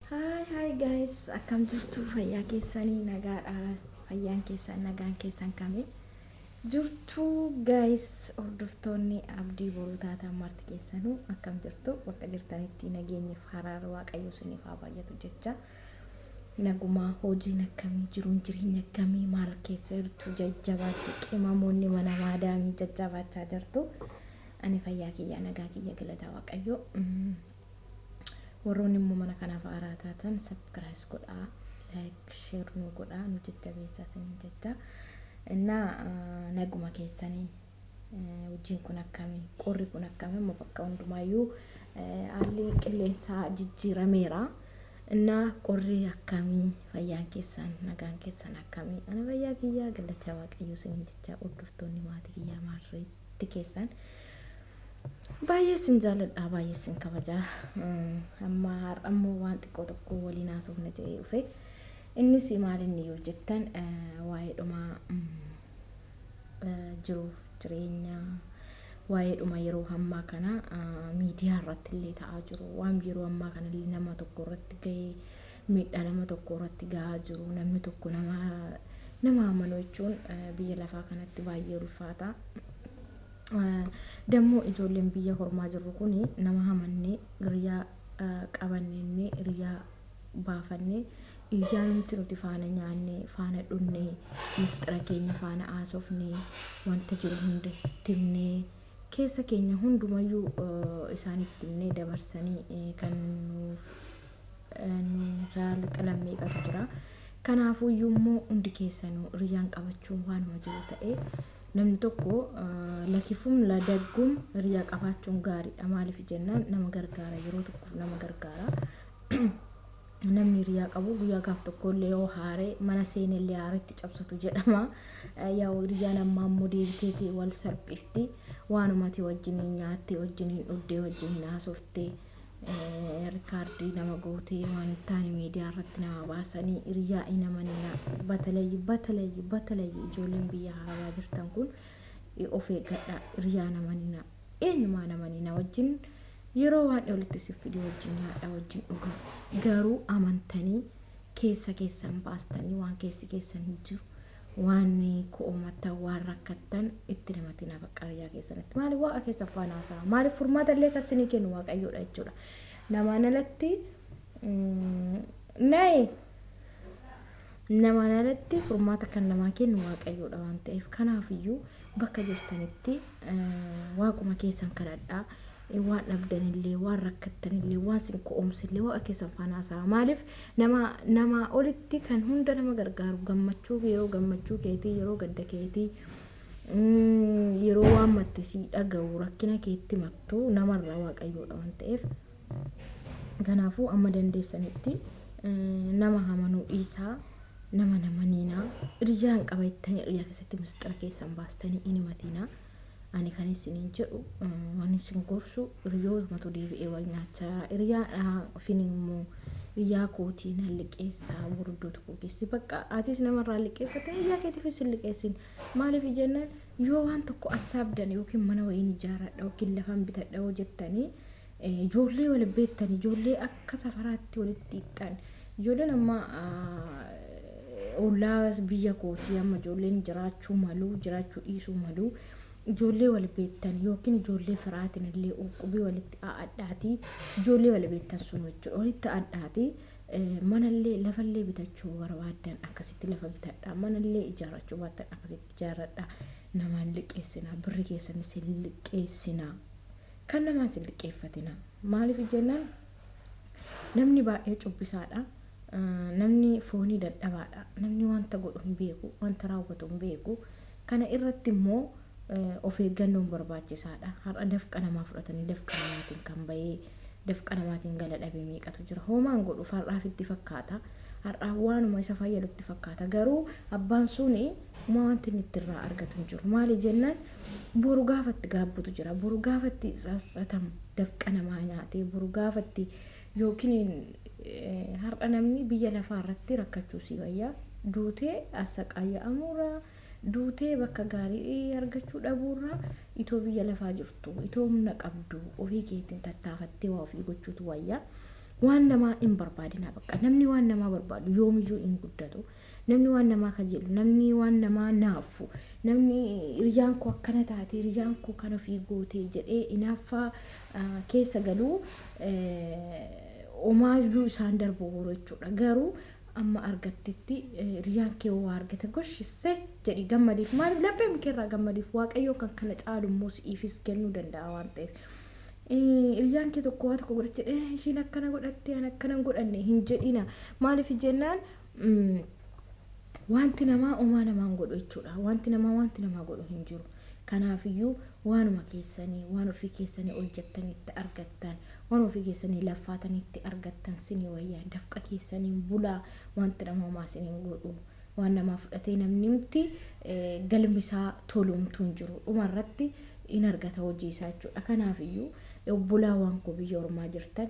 Hi hi guys akkam jirtu fayyaa keessanii nagaadha fayyaan keessan nagaan keessan kami jirtu guys hordoftoonni abdii boruu taataan marti keessanuu akkam jirtu bakka jirtanitti nageenyif haraara waaqayyoo isiniif haa baay'atu jecha nagumaa hojiin akkamii jiruun jireenya akkamii maal keessa jirtu jajjabaatti qimamoonni mana maadaamii jajjabaachaa jirtu ani fayyaa kiyya nagaa kiyya galata waaqayyoo. Mm. Warroonni immoo mana kanaaf haaraa taatan sabkiraayis godhaa like share nu godhaa nu jajjabeessaa isiniin jajjaa. Innaa naguma keessanii hojiin kun akkami qorri kun akkami amma bakka hundumaayyuu haalli qilleensaa jijjiirameera. Innaa qorri akkamii fayyaan keessan nagaan keessan akkamii ana fayyaa kiyyaa galatee waaqayyoo isiniin jajjaa hordoftoonni maatii kiyyaa maarree. Atti keessaan baay'ee isin jaaladhaa baay'ee isin kabajaa amma har'ammoo waan xiqqoo tokko waliin haasofna jedhee dhufe innis maal inni yoo jettan waa'ee dhumaa jiruuf jireenya waa'ee dhuma yeroo ammaa kana miidiyaa irratti illee ta'aa jiru waan yeroo ammaa kana illee nama tokko irratti ga'ee miidhaa nama tokko irratti gahaa jiru namni tokko nama nama amanuu jechuun biyya lafaa kanatti baay'ee ulfaata. Dammoo ijoolleen biyya hormaa jirru kun nama hamannee hiriyaa qabannee hiriyaa baafannee iyyaa nuti nuti faana nyaannee faana dhunnee misxira keenya faana haasofnee wanta jiru hunda timnee keessa keenya hundumayyuu isaanitti himnee dabarsanii kan nuuf nuusaa lixalan meeqatu jira. Kanaafuu iyyuu immoo hundi keessanuu hiriyaan qabachuun waanuma jiru ta'ee namni tokko lakifum ladaggum hiriyaa qabaachuun gaariidha. Maaliif jennaan nama gargaara yeroo tokkoof nama gargaara. Namni hiriyaa qabu guyyaa gaaf tokko illee yoo haare mana seene illee haaretti cabsatu jedhama. Yaa hiriyaan ammaa immoo deebiteeti wal salphifti. Waanumati wajjin nyaattee wajjin dhugdee wajjin haasoftee Riikaardii nama gootee waan hin taane miidiyaa irratti nama baasanii hiriyaa hin amaninaa. Batalayyi batalayyi batalayyi ijoolleen biyya harabaa jirtan kun of eeggadhaa hiriyaa hin amaninaa. Eenyumaa hin amaninaa wajjin yeroo waan walitti si fide wajjin nyaadhaa wajjin dhugaa. Garuu amantanii keessa keessan baastanii waan keessi keessan hin jiru. Waan ko'omattan waan rakkattan itti namatina baqqa biyyaa keessanitti maali waaqa keessan faan haasa'a maalif furmaata illee kan sinii kennu waaqayyoodha jechuudha namaan alatti nayi namaan alatti furmaata kan namaa kennu waaqayyoodha waan ta'eef kanaaf iyyuu bakka jirtanitti waaquma keessan kadhadhaa waan dhabdan illee waan rakkattan illee waan sin ko'oomse illee waaqa keessan faana haasa'aa maaliif nama namaa olitti kan hunda nama gargaaru gammachuu fi yeroo gammachuu keetii yeroo gadda keetii mm, yeroo waan matte sii dhaga'u rakkina keetti mattu namarraa waaqayyoodha waan ta'eef kanaafuu amma dandeessanitti eh, nama hamanuu dhiisaa nama namaniinaa irijaan qaba jettanii iryaa keessatti misxira keessan baastanii hin himatiinaa Ani kan isiniin jedhu waan isin gorsu hiriyootmatu deebi'ee wal nyaachaa jira. Hiriyaadhaa ofin immoo hiriyaa kootii nan liqeessaa gurguddoo tokko keessi. Bakka atis namarraa liqeeffattee hiriyaa keetiifis hin liqeessin. Maaliif jennaan yoo waan tokko assaabdan yookiin mana wayiin ijaaradha yookiin lafan bitadha yoo jettanii Ijoollee wal beektan, ijoollee akka safaraatti walitti hiixxan, ijoolleen amma ollaa biyya kootii amma ijoolleen jiraachuu malu, jiraachuu dhiisuu malu. Ijoollee wal beektan yookiin ijoollee firaatiin illee uqubii walitti adhaati. Ijoollee wal beektan sun jechuudha. Walitti adhaati. Manallee lafallee bitachuu barbaaddan akkasitti lafa bitadhaa. Manallee ijaarrachuu baattan akkasitti ijaarradhaa. Namaan liqeessinaa. Birri keessanis hin liqeessinaa. Kan namaa isin liqqeeffatina. Maaliif jennaan namni baay'ee cubbisaadha. Namni foonii dadhabaadha. Namni wanta godhu hin beeku, wanta raawwatu hin beeku. Kana irratti immoo of eeggannoon barbaachisaadha. Har'a dafqa namaa fudhatanii dafqa namaatiin kan bahee dafqa namaatiin gala dhabe meeqatu jira. Hoomaan godhuuf har'aaf itti fakkaata. Har'aaf waanuma isa fayyadu itti fakkaata. Garuu abbaan suni uma wanti inni ittirraa argatu hin jiru. Maali jennaan Boru gaafa itti gaabbutu jira. Boru gaafa itti sassatamu dafqa namaa nyaatee boru gaafa itti yookiin eh, har'a namni biyya lafaa irratti rakkachuu sii wayyaa duutee assaqaayya'amuurraa duutee bakka gaarii argachuu dhabuurraa itoo biyya lafaa jirtu itoo humna qabdu ofii keetiin tattaafattee waa ofii gochuutu wayyaa. Waan namaa hin barbaadinaa bakka namni waan namaa barbaadu yoomiyyuu hin guddatu. Namni waan namaa kajeelu, namni waan namaa naaffu, namni hiriyyaan koo akkana taate, hiriyyaan koo kan ofii goote jedhee inaaffaa keessa galu omaayyuu isaan darbooru jechuudha. Garuu amma argattetti hiriyyaan kee waa argate goshisse jedhi gammadiif maaliif lapheen kee irraa gammadiif waaqayyoon kan kana caalu immoo si'iifis kennuu danda'a waan ta'eef. Hiriyyaan kee tokko waa tokko godhatte ishiin akkana godhatte an akkana hin godhanne hin jedhina maaliif jennaan Wanti namaa omaa namaan godhu jechuudha. Wanti namaa wanti namaa godhu hin jiru. Kanaafiyyuu waanuma keessanii waan ofii keessanii hojjettanitti argattan waan ofii keessanii laffaatanitti argattan sinii wayyaa dafqa keessaniin bulaa wanti nama homaa siniin godhu waan namaa fudhatee namni mti galmisaa tolumtuu hin jiru dhumarratti in argata hojii isaa jechuudha. Kanaafiyyuu obbolaa waan koo biyya ormaa jirtan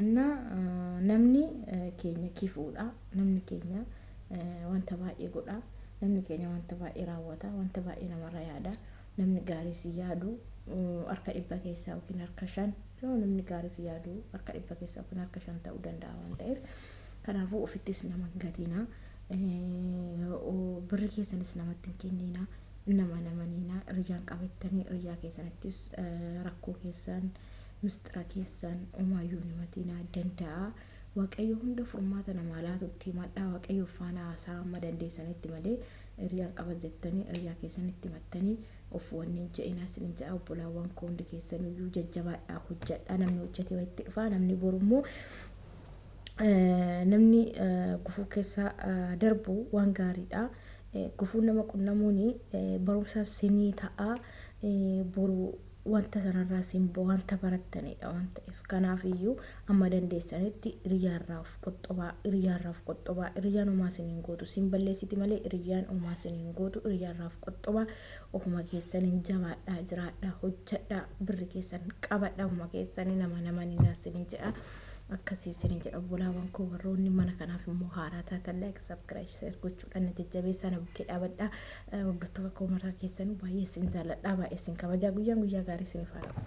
እና namni keenya kifuudha namni keenya wanta baay'ee godha namni keenya wanta baay'ee raawwata wanta baay'ee namarra yaada namni gaarii si yaadu harka dhibba keessaa yookiin harka shan yoo namni gaarii si yaadu harka dhibba keessaa yookiin harka shan ta'uu danda'a waan ta'eef kanaafuu ofittis nama hin gatinaa birri keessanis namatti hin kenninaa nama namaniinaa rijaan qabattanii rijaa keessanittis rakkoo keessan Misxira keessan omaayyuu hin himatinaa. Danda'a. Waaqayyo hunda furmaata namaa laatutti himadhaa. Waaqayyoof faana haasa'a amma dandeessanitti malee hiriyaan qaba jettanii hiriyaa keessanitti himattanii of wanni hin je'inaa isinin je'a obbolaawwan koo hundi keessanuyyuu jajjabaadhaa hojjadhaa namni hojjatee wayitti dhufaa namni borummoo namni gufuu keessa darbu waan gaariidha. Gufuun nama qunnamuun barumsaaf sinii ta'a boru wanta sanarraas hin bo wanta barattaniidha waan ta'eef kanaaf iyyuu amma dandeessanitti iriyyaarraa of qoxxobaa iriyyaarraa of qoxxobaa iriyyaan homaa sin hin gootu sin balleessiti malee iriyyaan homaa sin hin gootu iriyyaarraa of qoxxobaa ofuma keessaniin jabaadhaa jiraadhaa hojjadhaa birri keessan qabadhaa ofuma keessanii nama nama ni naasinin jedha akkasii isinin jedha obbolaawwan koo warroonni mana kanaaf immoo haaraa taatan like subscribe share gochuudhaan na jajjabeessaa na bukkee dhaabadhaa Hordoftoota koo maraa keessanuu baay'ee isin jaalladha, baay'ee isin kabajaa. Guyyaan guyyaa gaarii isiniif haa ta'u.